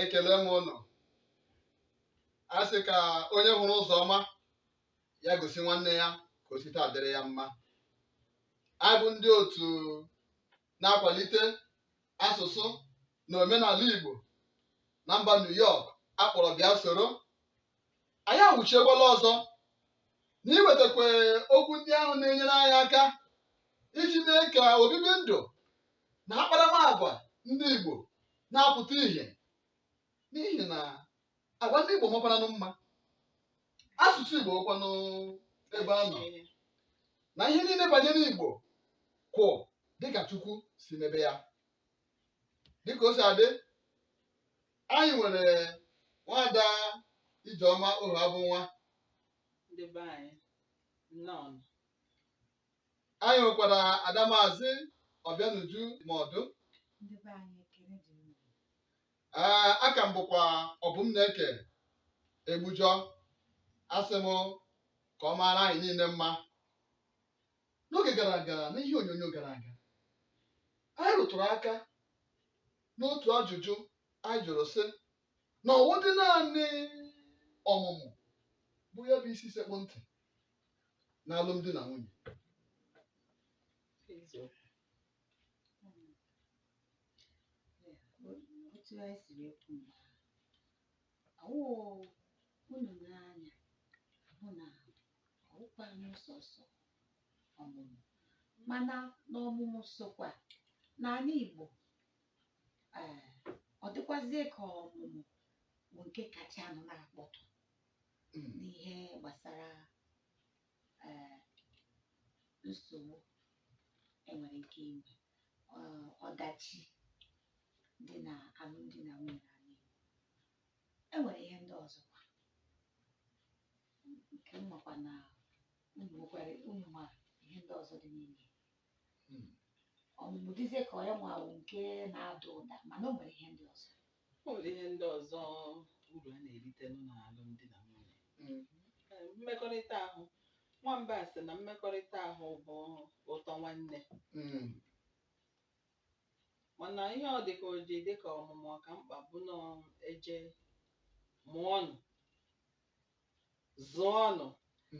ekele m unu a sị ka onye hụrụ ụzọ ọma ya gosi nwanne ya ka o site adịrị ya mma anyị bụ ndị otu na-akwalite asụsụ na omenala Igbo na mba New York a kpọrọ bịa soro anyị awụchiekwala ọzọ na iwetakwa okwu ndị ahụ na-enyere anyị aka iji mee ka obibi ndụ na akparamagwa ndị Igbo na-apụta ihe n'ihi na agwa ndị Igbo makwaranụ mma asụsụ Igbo wụkwanụ ebe a nọ na ihe niile banyere Igbo kwụ dịka Chukwu si mebe ya dịka o si adị anyị nwere nwada Ijeọma Ohuabụnwa ndị be anyị nnọọ anyị nwekwara ada maazị ọbịanuju Maọdụ ndị be anyị ekele dịrị unu ee aka m bụkwa Ọbụmneke Egbujọ asị m ka ọ maara anyị niile mma n'oge gara aga n'ihe onyonyo gara aga anyị rụtụrụ aka n'otu ajụjụ anyị jụrụ sị na ọ wụdị naanị ọmụmụ bụ ya bụ isi sekpụ ntị n'alụmdi na nwunye otu anyị siri ekwu mgbe ahụ ọ wụ unu n'anya hụ na ọ wụkwanụ sọsọ ọmụmụ mana na ọmụmụ sokwa n'ala Igbo ee ọ dịkwazie ka ọmụmụ bụ nke kachanụ na-akpọtụ n'ihe gbasara eh, nsogbu e nwere ike inwe eh, ọdachi dị na alụmdi na nwunye n'ala Igbo e nwere ihe ndị ọzọkwa nke m makwa na unu nwekwara unu ma ihe ndị ọzọ dị n'ime ya. Hmm. ọmụmụ dịzie ka onye nwawo nke na-ada ụda mana o nwere ihe ndị ọzọ O nwere ihe ndị ọzọ uru a na-eritenụ n'alụmdi na nwunye. Ee, mmekọrịta ahụ. Nwamba sị na mmekọrịta ahụ bụ ụtọ nwanne. Mana ihe ọ dị ka o ji dị ka ọmụmụ ọ ka mkpa bụ na eje mụọnụ zụọnụ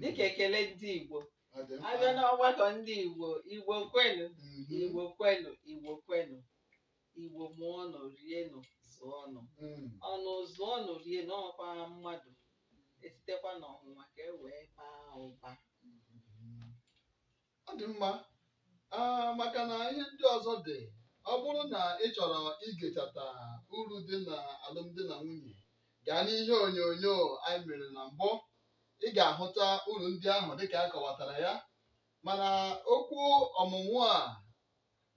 dịka ekele ndị Igbo Ọ dị mkpa. a bịa n'ọgbakọ ndị Igbo Igbo kwenu Mhm. Igbo kwenu Igbo kwenu Igbo mụọnụ rienụ zụọnụ Mụọnụ zụọnụ rienụ ọ kwa mmadụ e sitekwa n'ọmụmụ nwa ka e wee baa ụba Ọ dị mma, maka na ihe ndị ọzọ dị. Ọ bụrụ na ị chọrọ igechata uru dị na alụmdi na nwunye, gaa n'ihe onyonyo anyị mere na mbụ. Ị ga-ahụta uru ndị ahụ dịka a kọwatara ya. Mana okwu ọmụmụ a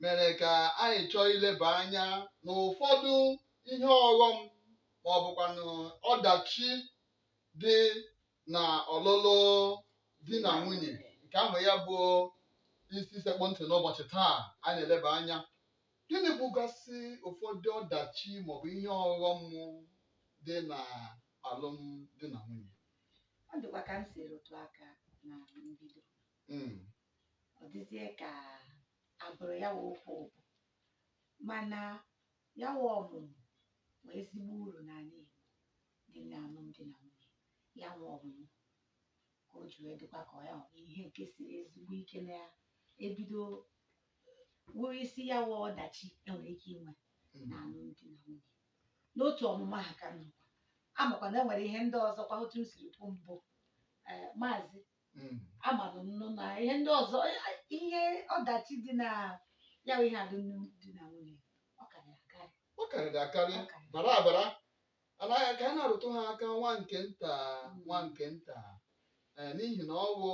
mere ka anyị chọọ ileba anya n'ụfọdụ ihe ọghọm ma ọ bụkwanụ ọdachi dị na ọlụlụ di na nwunye nke ahụ ya bụ isi sekpụ ntị n'ụbọchị taa a na-eleba anya gịnị bụgasị ụfọdụ ọdachi maọbụ ihe ọghọm dị na alụmdi na nwunye ọ dịkwa ka m si rụtụ aka na mbido Mm, ọ dịzie ka abụrụ ya wụ okwu mbụ mana ya wụ ọmụmụ wụ ezigbo uru n'ala Igbo n'ime alụmdi na nwunye, ya wụ ọmụmụ, ka o ji wee dịkwa ka ya wụ ihe nke siri ezigbo ike na ya ebido wụrụ isi ya wụ ọdachi enwere ike inwe na alụmdi na nwunye. N'otu ọmụmụ ahụ ka m nọkwa, amakwa na enwere ihe ndị ọzọkwa otu m siri kwu mbụ ee maazị Mm. amanụ m nụ na ihe ndị ọzọ ihe ọdachi dị na ya bụ ihe alụmdi na nwunye ọ karịrị akarị ọ karịrị akarị ọ karịrị bara abara Ala ya ka a na-arụtụ ha aka nwa nke nta nwa nke nta eh, n'ihi na ọ bụ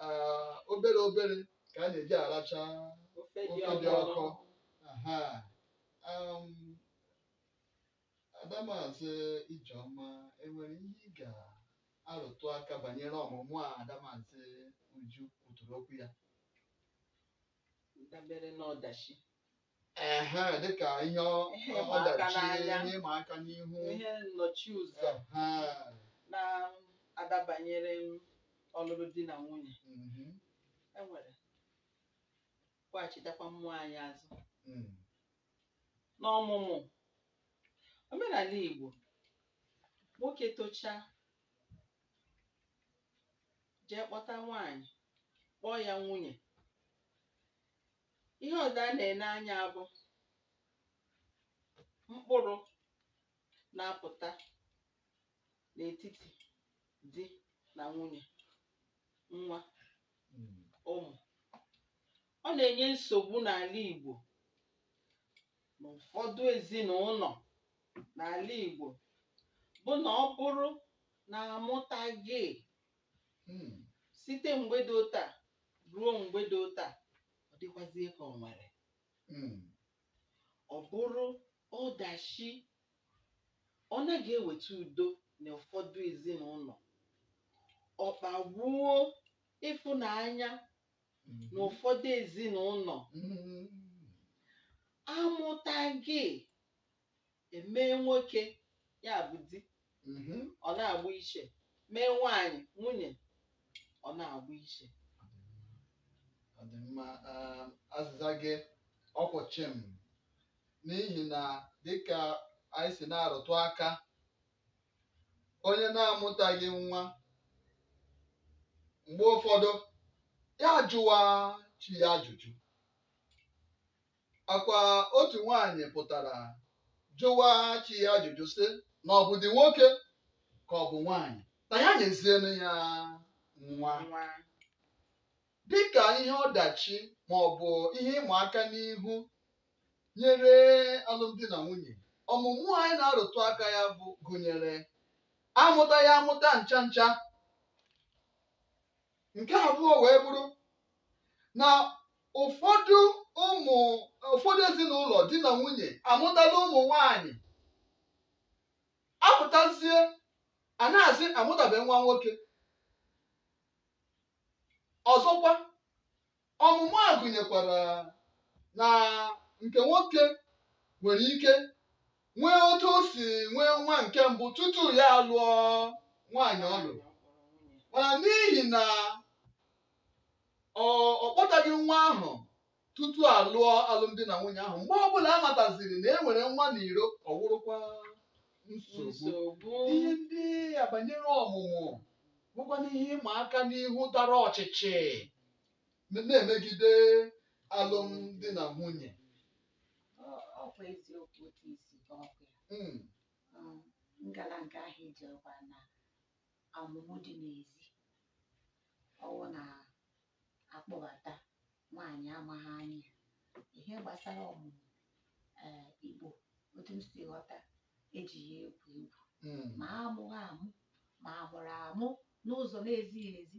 ah, obere obere ka a na-eji aracha ofe dị ofe dị ọkụ ọkụ Aha. Um, Adamazi Ijeọma enwere ihe ị ga-arụtụ aka banyere ọmụmụ a Adamazi Uju kwuturu okwu ya dabere n'ọdachi Ehe, dịka ihe ọ- Ihe ịma aka ọdachi n'anya. ihe ịma aka n'ihu ihe nnọchi ụzọ Ehe, na-adabanyere ọlụlụ di na nwunye mhm, e nwere kwaghachitakwa mmụọ anyị azụ mm, n'ọmụmụ omenala Igbo nwoke tochaa jee kpọta nwaanyị kpọọ ya nwunye Ihe ọzọ a na-ene anya bụ mkpụrụ na-apụta n'etiti di na nwunye, nwa, ụmụ. Ọ na-enye nsogbu n'ala Igbo na ụfọdụ ezinụlọ n'ala Igbo bụ na ọ bụrụ na amụtaghị Hmm. site mgbe dị otu a ruo mgbe dị otu a ọ dịkwazie ka ọ nwere Hmm. ọ bụrụ ọdachi ọ naghị eweta udo na ụfọdụ ezinụlọ ọ kpagbuo ịfụnanya Hmm. na ụfọdụ ezinụlọ Hmm. amụtaghị emee nwoke ya bụ di Mhm. ọ na-agba iche mee nwaanyị nwunye ọ na-agba iche ọ dị mma um, azịza gị ọ kwụ chịm n'ihi na dịka anyị si na-arụtụ aka onye na-amụtaghị nwa mgbe ụfọdụ ya jụwa chi ya ajụjụ Akwa otu nwaanyị pụtara jụwa chi ya ajụjụ sị na ọ bụdị nwoke ka ọ bụ nwaanyị na ya nyezienụ ya nwa dịka ihe ọdachi ma ọ bụ ihe ịma aka n'ihu nyere alụmdi na nwunye ọmụmụ anyị na-arụtụ aka ya bụ gụnyere amụtaghị amụta ncha ncha nke abụọ wee bụrụ na ụfọdụ ụmụ ụfọdụ ezinụlọ di na nwunye amụtala ụmụ nwanyị a pụtazie a na-asị amụtabe nwa nwoke ọzọkwa Ọmụmụ a gụnyekwara na nke nwoke nwere ike nwee otu o si nwee nwa nke mbụ tutu ya alụọ nwaanyị ọ lụrụ mana n'ihi na ọ ọ kpọtaghị nwa ahụ tutu a lụọ alụmdi na nwunye ahụ mgbe ọbụla a mataziri na e nwere nwa n'iro ọ wụrụkwa nsogbu nsogbu ihe ndị a banyere ọmụmụ bụkwana ihe ịma aka n'ihu dara ọchịchị m- na-emegide alụmdi na nwunye Ọ- ọkwa eziokwu otu isi ka ọ bụ ya. Mm, Um, ngala nke ahụ ejekwa na ọmụmụ dị n'ezi ọwụ na a kpọbata nwaanyị amaghị anya ihe gbasara ọmụmụ ee Igbo otu m si ghọta ejighị ya egwu egwu mm, ma amụghị amụ ma amụrụ amụ n'ụzọ na-ezighị ezi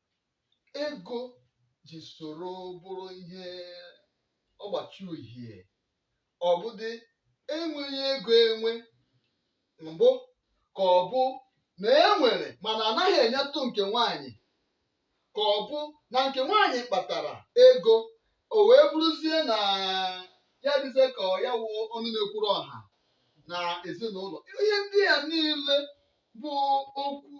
ego ji soro bụrụ ihe ọgbachi uhie ọ bụdị enweghị ego enwe mbụ ka ọ bụ na e nwere mana anaghị enyetụ nke nwaanyị ka ọ bụ na nke nwaanyị kpatara ego o wee bụrụzie na ya dịzie ka ọ ya wụ ọnụ na-ekwuru ọha na ezinụlọ ihe ndị a niile bụ okwu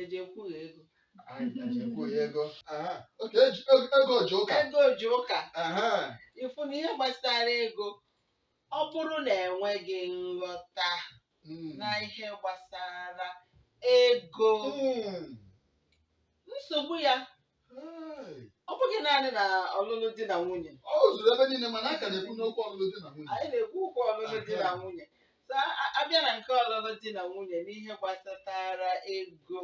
eji ekwughe ego eji ekwughe ego oke ego ji ụka ego ji ụka ị fụ na ihe gbasara ego ọ bụrụ na enweghị nghọta hmm. na ihe gbasara ego hmm. nsogbu ya ọ bụghị naanị na ọlụlụ di na nwunye ọ zuru ebe niile mana a ka na-ekwu n'okwu ọlụlụ di na nwunye anyị na-ekwu okwu ọlụlụ di na nwunye so a- abịa na nke ọlụlụ di na nwunye n'ihe gbasatara ego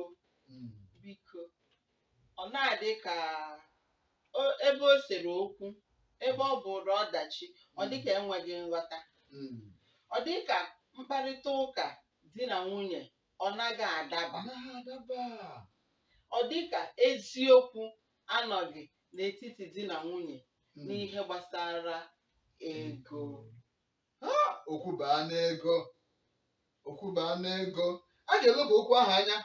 Mm. biko ọ na-adị ka o- ebe o sere okwu ebe ọ bụrụ ọdachi ọ dị ka enweghị nghọta Mm. ọ dị ka mkparịta ụka di na nwunye ọ naghị adaba anaghị adaba ọ dị ka eziokwu anọghị n'etiti di na nwunye Mm. n'ihe gbasara ego Ha, okwu baa n'ego okwu baa n'ego a ga-eleba okwu ahụ anya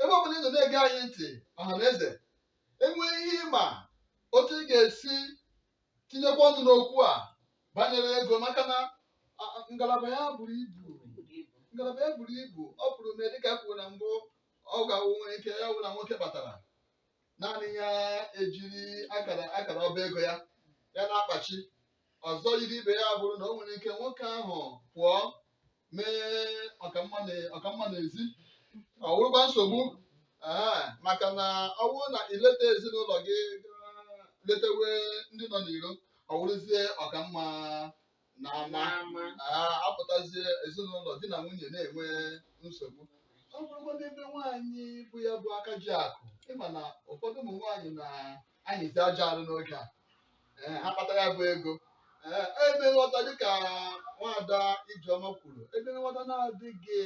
ebe ọbụla ị nọ na-ege anyị ntị ọha na eze enwee ihe ị ma otu ị ga-esi tinyekwa ọnụ n'okwu a banyere ego maka na a- a- ngalaba ya buru ibu ngalaba ya buru ibu ọ pụrụ mee dịka e kwuru na mbụ ọ ga-awụ nwere ike ya wụ na nwoke batara naanị ya ejiri akara akara ọba ego ya ya na-akpachi ọzọ yiri ibe ya bụrụ na o nwere ike nwoke ahụ pụọ mee ọkamma na- ọkamma n'ezi ọ wụrụkwa nsogbu ee, maka na ọ bụrụ na i leta ezinụlọ gị gaa letewe ndị nọ n'iro ọ wụrụzie ọkamma na ama N'ama. Ee, apụtazie ezinụlọ di na nwunye na-enwe nsogbu ọ bụrụkwanụ ebe nwaanyị bụ ya bụ aka ji akụ ị ma na ụfọdụ ụmụ nwaanyị na anyịzi ajọ arụ n'oge a ee ha kpata ya bụ ego ee ebe nghọta dịka nwaada Ijeọma kwuru ebe nghọta na-adịghị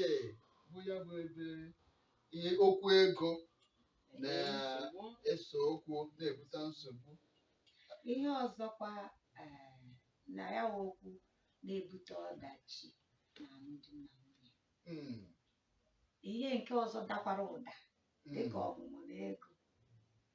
bụ ya bụ ebe ihe okwu ego na-eso okwu na-ebute nsogbu ihe ọzọkwa eh, na ya wụ okwu na-ebute ọdachi na alụmdi na nwunye Mm, ihe nke ọzọ dakwara ụda mm, dịka ọmụmụ na ego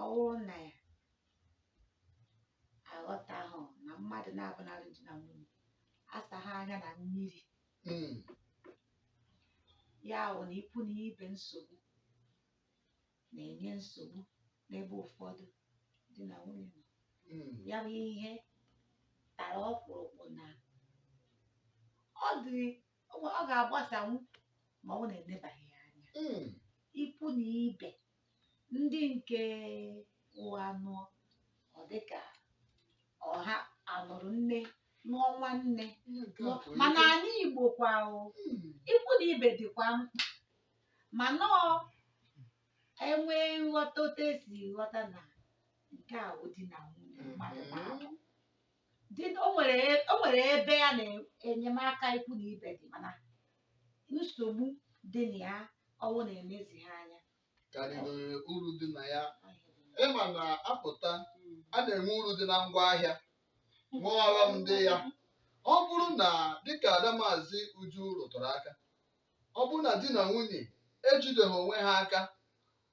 Ọ bụrụ na ya aghọtahụ na mmadụ naabọ na-alụ di na nwunye asaghị anya na mmiri Mm. ya bụ na ikwu na ibe nsogbu na-enye nsogbu n'ebe ụfọdụ di na nwunye nọ. Mm. ya bụ ihe tara ọkpụrụkpụ na ọ dị ọ ga-agbasanwu ma ọ wụ na enebaghị ya anya Mm. ikwu na ibe ndị nke ụwa anụọ ọ dị ka ọha a nụrụ nne nụọ nwanne mana anyị Igbo kwa o ikwu na ibe dịkwa mkpa mana ọ e nwee nghọta otu e si ghọta na nke a bụ di na nwunye mmadụ na-abụ dị o nwere o nwere ebe ya na enyemaka ikwu na ibe dị mana nsogbu dị na ya ọ wụ na e lezie ya anya karịrị uru dị na ya ị ma na a pụta a na-enwe uru dị na ngwa ahịa nwee ọghọm dị ya ọ bụrụ na dịka Ada Maazị Uju rụtụrụ aka ọ bụrụ na di na nwunye ejideghị onwe ha aka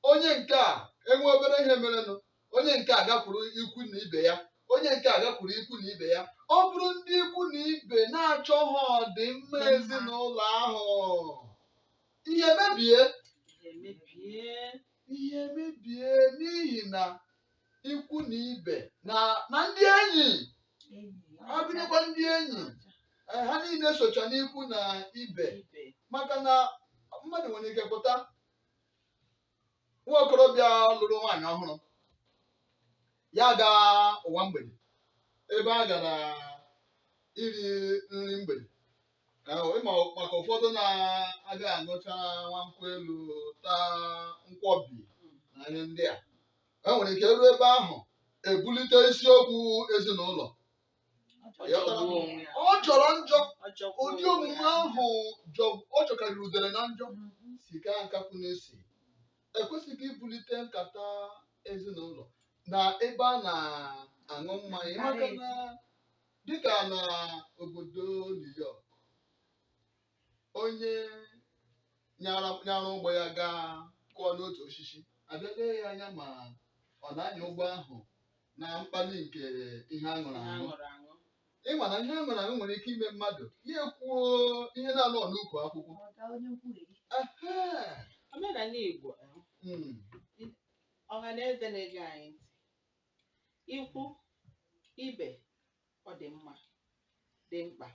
onye nke a e nwee obere ihe merenụ onye nke a gakwuru ikwu na ibe ya onye nke a gakwuru ikwu na ibe ya ọ bụrụ ndị ikwu na ibe na-achọghị ọdịmma ezinụlọ ahụ ihe mebie ihe mebie n'ihi na ikwu na ibe na na ndị enyi ọ gụnyekwa ndị enyi eh, ha niile socha n'ikwu na ibe maka na mmadụ nwere ike pụta nwa okorobịa lụrụ nwaanyị ọhụrụ ya gaa ụwa mgbede ebe a gara iri nri mgbede ka o- ị ma maka ụfọdụ na-aga aṅụcha nwa nkwụ elu taa nkwọbi na ihe ndị a e nwere ike ruo ebe ahụ ebulite isiokwu ezinụlọ ọ jọrọ njọ ụdị omume ahụ ọ jọkarịrị udere na njọ sikaa nkakwụ n'isi e kwesịghị ibulite nkata ezinụlọ na ebe a na-aṅụ mmanya maka na dịka na obodo New York onye nyara ụgbọ ya gaa kụọ n'otu osisi a bịa lee ya anya ma ọ na-anya ụgbọ ahụ na mkpali nke ihe a ṅụrụ aṅụ ị ma na ihe a ṅụrụ aṅụ nwere ike ime mmadụ ya ekwuo ihe na-anọ n'ukwu akwụkwọ omenala Igbo hmm. ọha na eze na-ege anyị ntị ikwu ibe ọ dị mma dị mkpa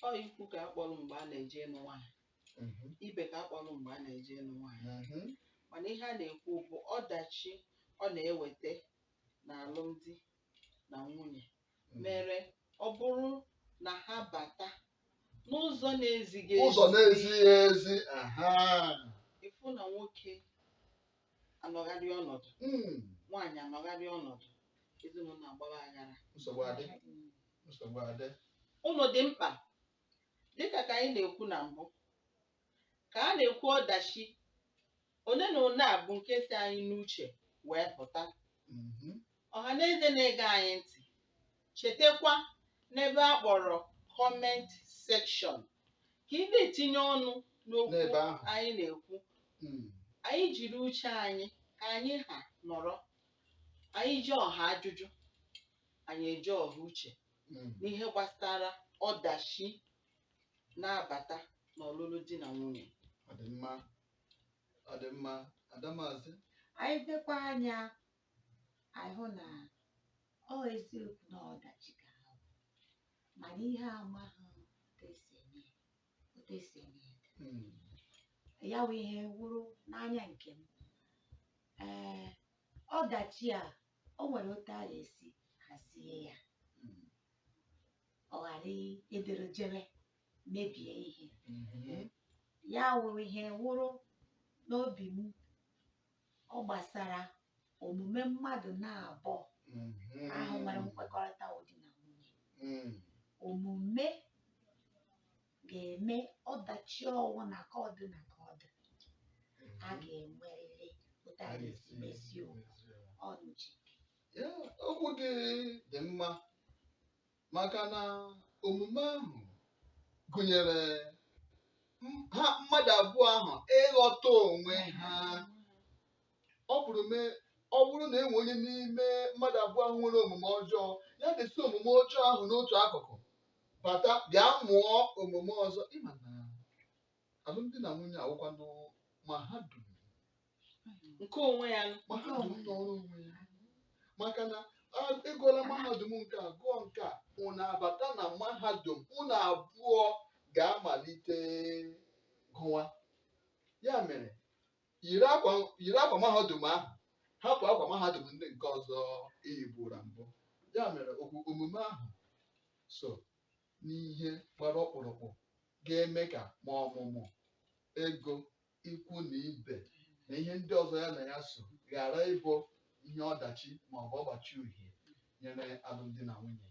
ọ ikwu ka a kpọrọ mgbe a na-eje ịnụ nwaanyị Mhm. ibe ka a kpọrọ mgbe a na-eje ịnụ nwaanyị Mhm. mana ihe a na-ekwu bụ ọdachi ọ na-eweta na alụmdi na nwunye mere ọ bụrụ na ha bata n'ụzọ na-ezighị ụzọ na-ezighị ezi aha ị fụ na nwoke anọgharị ọnọdụ Mm, nwaanyị anọgharị ọnọdụ ezinụlọ agbara aghara nsogbu adị nsogbu adị ụlọ dị mkpa dịka ka anyị na-ekwu na mbụ ka a na-ekwu ọdachi one na one a bụ nke si anyị n'uche wee pụta Mhm. Ọhaneze na-ege anyị ntị, chetakwa n'ebe a kpọrọ comment section ka ị na-etinye ọnụ n'okwu N'ebe ahụ. anyị na-ekwu Mm. anyị jiri uche anyị ka anyị ha nọrọ anyị ji ọha ajụjụ anyị eji ọha uche Mm. n'ihe gbasara ọdachi na-abata n'ọlụlụ di na nwunye Ọ dị mma. Ọ dị mma. Adamazị. anyị lekwa anya anyị hụ na ọ eziokwu na ọdachi ka ha bụ mana ihe amaghị otu esi eme ya, otu esi eme ya dị. Mm. ya bụ ihe wụrụ n'anya nke m ee ọdachi a o nwere otu a ga-esi hazie ya Mm. ọ ghara ịdịrị jere mebie ihe Mhm. ya wụrụ ihe wụrụ n'obi m ọ gbasara omume mmadụ na-abụọ ahụ nwere nkwekọrịta wụ di na nwunye omume ga-eme ọdachi ọwụna ka ọ dị na ka ọ dị a ga-enwerịrị otu a ga-esi mezie okwu Ọlụchi okwu gị dị mma maka na omume ahụ gụnyere m- ha mmadụ abụọ ahụ ịghọta onwe ha ọ bụrụ mee ọ bụrụ na e nwee onye n'ime mmadụ abụọ ahụ nwere omume ọjọọ ya desi omume ọjọọ ahụ n'otu akụkụ bata bịa mụọ omume ọzọ ịma na alụmdi na nwunye awụkwanụ mahadum nke onwe ya nụ. mahadum nọrọ onwe ya maka na a- ị gụọla mahadum nke a gụọ nke a unu abata na mahadum unu abụọ ga-amalite gụwa ya mere yiri akwa yiri akwa mahadum ahụ hapụ akwa mahadum ndị nke ọzọ i yibura mbụ ya mere okwu omume ahụ so n'ihe gbara ọkpụrụkpụ ga-eme ka ma ọmụmụ ego ikwu na ibe na ihe ndị ọzọ ya na ya so ghara ịbụ ihe ọdachi ma ọ bụ ọgbachi uhie nyere alụmdi na nwunye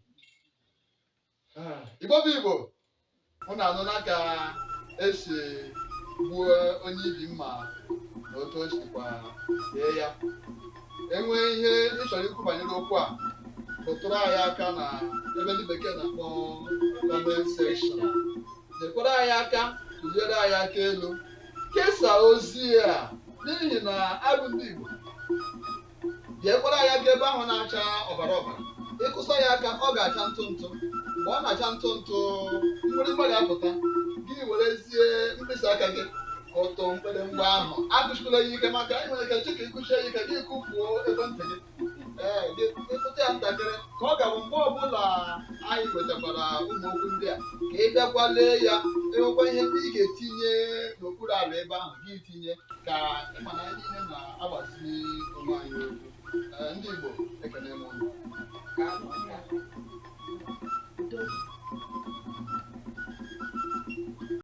Ah, Igbo bụ Igbo unu anụla ka esi gbuo onye ibi mma na otu o sikwa dee ya enwee ihe ị chọrọ ikwu banyere okwu a rụtụrụ anyị aka na ebe ndị bekee na-akpọ comment section nyekwara anyị aka tụnyere anyị aka elu kesaa ozi a n'ihi na abụ ndị Igbo bịakwara anyị aka ebe ahụ na-acha ọbara ọbara ị kụsa ya aka ọ ga-acha ntụ ntụ mgbe ọ na-acha ntụ ntụ mgbịrịgba ga-apụta gị werezie mkpịsị aka gị kụtụ mgbịrịgba ahụ akụsikwala ya ike maka anyị nwere ike chika ị kụsie ya ike gị kụfuo ekwentị gị ee ị kụtụ ya ntakịrị ka ọ ga-abụ mgbe ọbụla anyị wetakwara ụmụ okwu ndị a ka ị bịakwa lee ya i nwekwa ihe ndị ị ga-etinye n'okpuru ala ebe ahụ gị tinye ka ị ma na anyị niile na-agbazi onwe anyị okwu Ee, ndị Igbo ekene m unu. Udo.